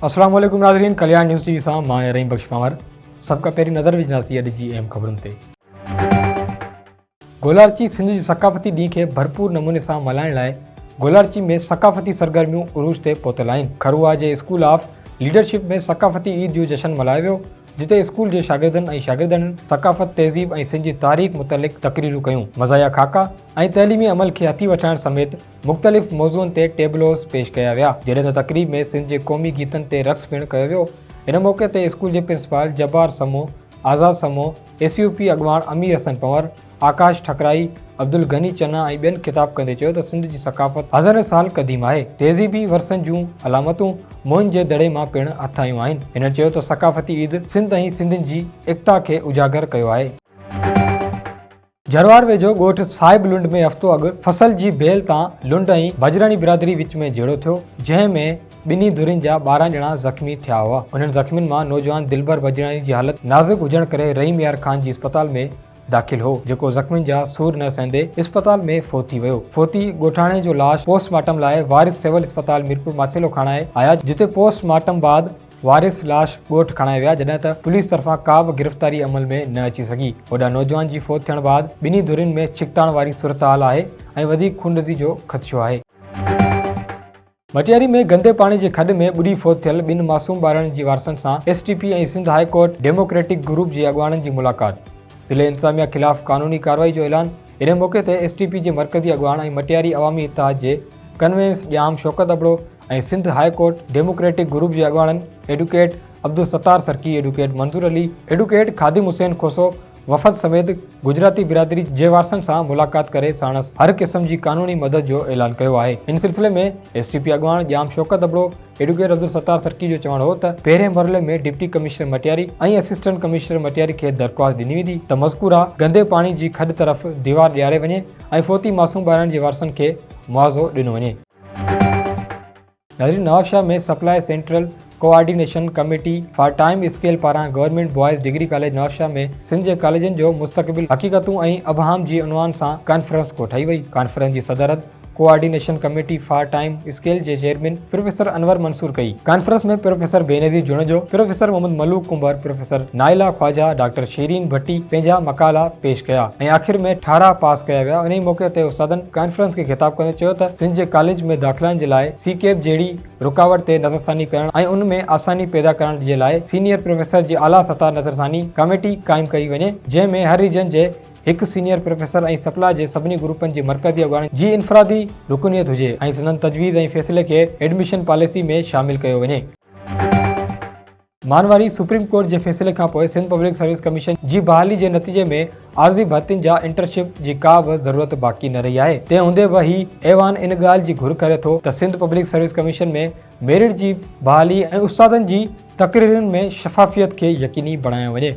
السلام عليڪم ناظرين ڪليان نيوز ٽي وي سان مان آهيان رحيم بخش پنهور سڀ کان پهرين نظر وجهنداسين اڄ جي اهم خبرن تي گولارچي سنڌ جي ثقافتي ڏينهن کي ڀرپور نموني سان ملهائڻ لاء گولارچي ۾ ثقافتي سرگرميون عروج تي پهتل آهن کروها جي اسڪول آف ليڊرشپ ۾ ثقافتي عيد جو جشن ملهايو ويو جتي اسڪول جي شاگردن ۽ شاگردڻين ثقافت، تهذيب ۽ سنڌ جي تاريخ متعلق تقريرون ڪيون، مزاحيه خاڪا ۽ تعليمي عمل کي هٿي وٺرائڻ سميت مختلف موضوعن تي ٽيبلوز پيش ڪيا ويا، جڏهن ته تقريب ۾ سنڌ جي قومي گيتن تي رقص پڻ ڪيو ويو، ان موقعي تي اسڪول جي پرنسپال جبار سمون، آزاد سمون، اي سي او پي اڳواڻ امير حسن پنور، آڪاش ٺڪرائي، عبدالغني چنا ۽ ٻين خطاب ڪندي چيو ته سنڌ جي ثقافت هزارين سال قديم آهي، تهذيبي ورثن جون علامتون موهن جي دڙي مان پڻ هٿ آيون آهن. هنن چيو ته ثقافتي عيد سنڌ ۽ سنڌين جي ايڪتا کي اجاگر ڪيو آهي. جروار ويجهو ڳوٺ صاحب لنڊ ۾ هفتو اڳ فصل جي بيل تان لنڊ ۽ بجراڻي برادري وچ ۾ جهيڙو ٿيو، جنهن ۾ ٻنهي ڌرين جا ٻارهن ڄڻا زخمي ٿيا هئا، انهن زخمين مان نوجوان دلبر بجراڻي جي حالت نازڪ هجڻ ڪري رحيم يار خان جي اسپتال ۾ داخل هو، جيڪو زخمين جا سور نه سهندي اسپتال ۾ فوت ٿي ويو. فوتي ڳوٺاڻي جو لاش پوسٽ مارٽم لاء وارث سول اسپتال ميرپور ماٿيلو کڻائي آيا، جتي پوسٽ مارٽم بعد وارث لاش ڳوٺ کڻائي ويا، جڏهن ته پوليس طرفان ڪا به گرفتاري عمل ۾ نه اچي سگهي. هوڏانهن نوجوان جي فوت ٿيڻ بعد ٻنهي ڌرين ۾ ڇڪتاڻ واري صورتحال آهي ۽ وڌيڪ خونريزي جو خدشو آهي. مٽياري ۾ گندي پاڻي جي کڏ ۾ ٻڏي فوت ٿيل ٻن معصوم ٻارڙن جي وارثن سان S T P ۽ Sindh high court democratic group جي اڳواڻن جي ملاقات، ضلعي انتظاميا خلاف قانوني ڪارروائي جو اعلان، انهي موقعي تي ايس ٽي پي جي مرڪزي اڳواڻ ۽ مٽياري عوامي اتحاد جي convener Jam Shaukat Abro ۽ Sindh high court democratic group جي اڳواڻن advocate Abdul Sattar Sarki, advocate Manzoor Ali, advocate Khadim Hussain Khoso, وفد سميت گجراتي برادري جي وارثن سان ملاقات ڪري ساڻس هر قسم جي قانوني مدد جو اعلان ڪيو آهي ان سلسلي ۾ ايس ٽي پي اڳواڻ ڄام شوڪت ابڙو ايڊوڪيٽ عبدالستار سرڪي جو چوڻ هو ته پهرين مرحلي ۾ deputy commissioner Matiari ۽ assistant commissioner Matiari کي درخواست ڏني ويندي ته مذڪوره گندي پاڻي جي کڏ طرف ديوار ڏياري وڃي ۽ فوتي معصوم ٻارڙن جي وارثن کي معاضو ڏنو وڃي. ناظرين Nawabshah ۾ supply central coordination committee for time scale پاران government boys degree college Nawabshah ۾ Sindh جي ڪاليجن جو مستقبل حقيقتون ۽ ابهام جي عنوان سان ڪانفرنس ڪوٺائي وئي ڪانفرنس جي صدارت coordination committee for time scale جي چيئرمين پروفيسر انور منصور ڪئي conference ۾ professor Benazir Junejo professor Muhammad Malook Kumbhar professor Naila Khawaja doctor Shireen Bhatti پنهنجا مقالا پيش ڪيا ۽ آخر ۾ ٺارا پاس ڪيا ويا انهي موقعي تي استادن ڪانفرنس کي خطاب ڪندي چيو ته سنڌ جي ڪاليج ۾ داخلائن جي لاء سي ڪيپ جهڙي رڪاوٽ تي نظرثاني ڪرڻ ۽ ان ۾ آساني پيدا ڪرڻ جي لاء سينيئر پروفيسر جي اعليٰ سطح نظرثاني ڪاميٽي قائم ڪئي وڃي جنهن ۾ هر ريجن جي هڪ سينيئر پروفيسر ۽ سپلا جي سڀني گروپن جي مرڪزي اڳواڻن جي انفرادي رڪنيت هجي ۽ سندن تجويز ۽ فيصلي کي ايڊميشن پاليسي ۾ شامل ڪيو وڃي. مانواري، سپريم ڪورٽ جي فيصلي کانپوء سنڌ پبلڪ سروس ڪميشن جي بحالي جي نتيجي ۾ عارضي ڀرتين جا انٽرشپ جي ڪا به ضرورت باقي نه رهي آهي تنهن هوندي به هي ايوان ان ڳالهه جي گهر ڪري ٿو ته Sindh public service commission ۾ merit جي بحالي ۽ استادن جي تقررين ۾ شفافيت کي يقيني بڻايو وڃي.